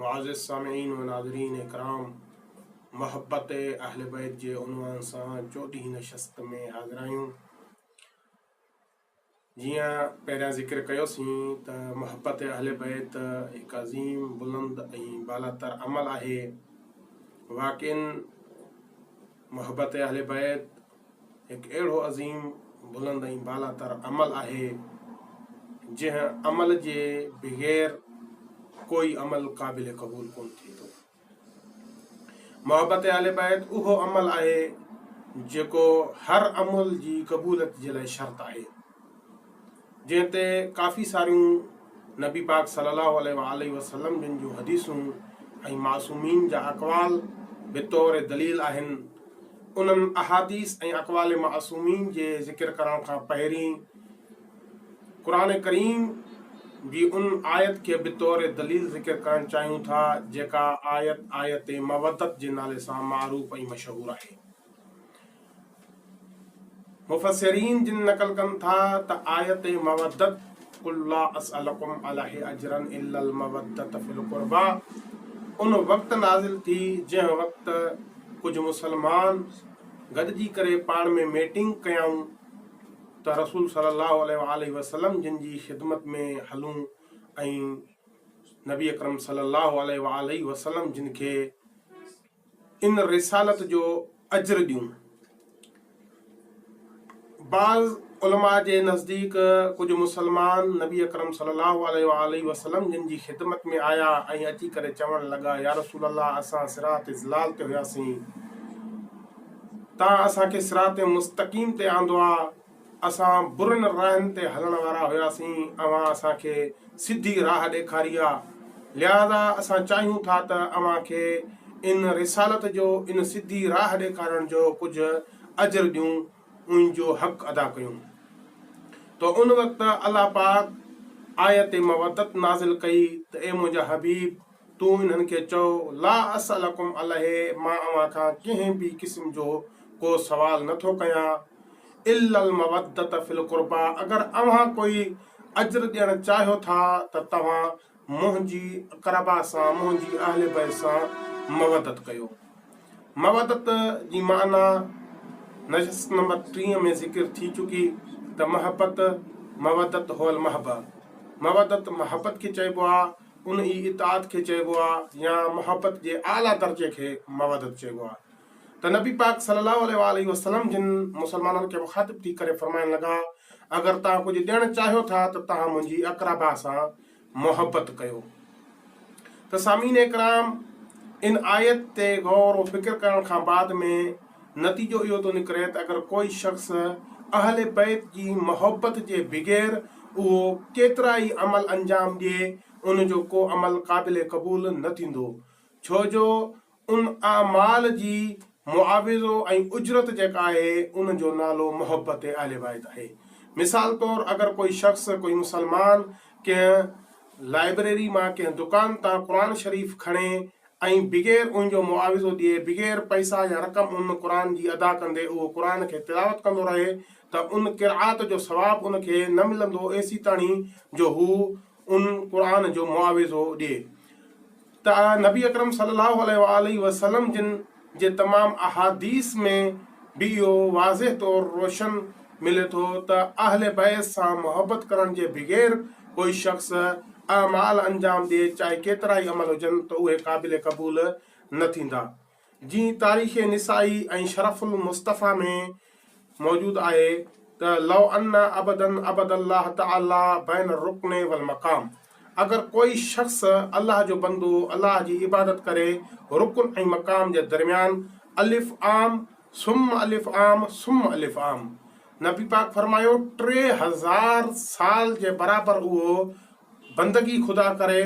معزز سامعين و ناظرين ڪرام! محبت اهل بيت جي عنوان سان چوڏهين نشست ۾ حاضر آهيون. جيئن پهريان ذڪر ڪيو سين ته محبت اهل بيت هڪ عظيم بلند ۽ بالاتر عمل آهي. واقعين محبت اهل بيت هڪ اهڙو عظيم، بلند ۽ بالاتر عمل آهي، جنهن عمل جي بغير ڪوئي عمل قابل قبول ڪونه ٿئي ٿو. محبت اهل بيت اهو عمل آهي، جيڪو هر عمل جي قبوليت جي لاء شرط آهي. جنهن تي ڪافي ساريون نبي پاڪ صلي الله عليه وآله وسلم جن جون حديثون ۽ معصومين جا اقوال بطور دليل آهن. انهن احاديث ۽ اقوال معصومين جي ذڪر ڪرڻ کان پهرين قرآن ڪريم جي ان آيت کي بطور دليل ذڪر ڪرڻ چاهيون ٿا جيڪا آيت آيت مودت جي نالي سان معروف ۽ مشهور آهي. مفسرين جن نقل ڪن ٿا ته آيت مودت قل لا اسالکم عليه اجرا الا المودت في القربا ان وقت نازل ٿي جنهن وقت ڪجهه مسلمان گڏجي ڪري پاڻ ۾ ميٽنگ ڪيائون ته رسول صلي الله عليه وسلم جن جي خدمت ۾ هلون ۽ نبي اڪرم صلي الله عليه وسلم جن کي ان رسالت جو اجر ڏيون. بعض علماء جي نزديڪ ڪجهه مسلمان نبي اڪرم صلي الله عليه وآله وسلم جن جي خدمت ۾ آيا ۽ اچي ڪري چوڻ لڳا يا رسول الله اسان صراط ضلال تي هياسين تان اسان کي صراط مستقيم تي آندو آ اسان برن راهن تي هلڻ وارا هياسين، اوهان اسان کي سڌي راهه ڏيکاري آ، لهٰذا اسان چاهيون ٿا ته اوهان کي ان رسالت جو، ان سڌي راهه ڏيکارڻ جو ڪجهه اجر ڏيون، ان جو حق ادا ڪيون. ته ان وقت الله پاڪ آيت مودت نازل ڪئي ته اي منهنجا حبيب! تون انهن کي چئو، لا اسئلڪم عليه مان اوهان کان ڪنهن به قسم جو ڪو سوال نه ٿو ڪيان الا المودة في القربيٰ اگر اوهان ڪوئي اجر ڏيڻ چاهيو ٿا ته توهان منهنجي قربيٰ سان، منهنجي اهل بيت سان مودت ڪيو. مودت جي معني نشست نمبر ٽيهه ۾ ذڪر ٿي چڪي ته محبت، مودة هو المحبة، مودت محبت کي چئبو آهي. ان ئي اطاعت کي چئبو آهي يا محبت جي اعليٰ درجي کي مودت چئبو آهي ته نبي پاڪ صلي الله عليه واٰله وسلم جن مسلمانن کي مخاطب ٿي ڪري فرمائڻ لڳا اگر توهان ڪجهه ڏيڻ چاهيو ٿا ته توهان منهنجي اقربا سان محبت ڪيو ته سامعين ڪرام ان آيت تي غور و فڪر ڪرڻ کان بعد ۾ نتيجو اهو ٿو نڪري ته اگر ڪوئي شخص اهل بيت جي محبت جي بغير اهو ڪيترا ئي عمل انجام ڏئي ان جو ڪو عمل قابل قبول نه ٿيندو ڇو جو ان اعمال جي معاوضو ۽ اجرت جيڪا آهي ان جو نالو محبت اهل بيت آهي مثال طور اگر ڪوئي شخص ڪوئي مسلمان ڪنهن لائبريري مان ڪنهن دڪان تان قرآن شريف کڻي ۽ بغير ان جو معاوضو ڏئي، بغير پئسا يا رقم ان قرآن جي ادا ڪندي اهو قرآن کي تلاوت ڪندو رهي ته ان قرآت جو ثواب ان کي نه ملندو ايسيتاڻي جو هو ان قرآن جو معاوضو ڏئي ته نبي اڪرم صلي الله عليه وآله وسلم جن جي تمام احاديث ۾ به اهو واضح طور روشن ملي ٿو ته اهل بيت سان محبت ڪرڻ جي بغير ڪوئي شخص اعمال انجام ڏئي چاهي ڪيترائي عمل هجن ته اهي قابل قبول نه ٿيندا جيئن تاريخ نسائي ۽ شرف المصطفيٰ ۾ موجود آهي ته لو ان عبدا عبد الله تعالي بين الرڪن والمقام اگر ڪوئي شخص الله جو بندو الله جي عبادت ڪري رڪن ۽ مقام جي درميان الف عام ثم الف عام ثم الف عام نبي پاڪ فرمايو ٽي هزار سال جي برابر اهو بندگي خدا ڪري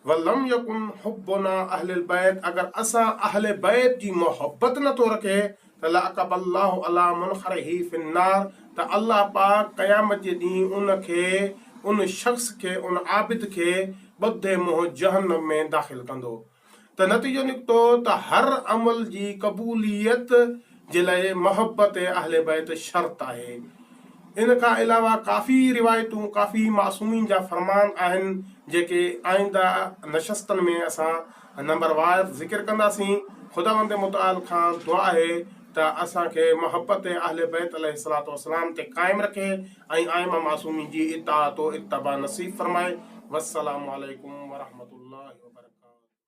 ولم يڪن حبنا اهل البيت اگر اسان اهل بيت جي محبت نه ٿو رکي ته لاعقب الله علي منخره في النار ته الله پاڪ قيامت جي ڏينهن ان کي ان شخص کي ان عابد کي ٻڌي منهن جهنم ۾ داخل ڪندو ته نتيجو نڪتو ته هر عمل جي قبوليت جي لاء محبت اهل بيت شرط آهي. ان کان علاوه ڪافي روايتون، ڪافي معصومين جا فرمان آهن جيڪي آئنده نشستن ۾ اسان نمبر وائز ذڪر ڪنداسين. خداوند متعال کان دعا آهي ته اسان کي محبت اهل بيت عليه الصلوة والسلام تي قائم رکي ۽ ائمه معصومين جي اطاعت و اتباع نصيب فرمائي. والسلام عليڪم ورحمة الله وبرڪاته.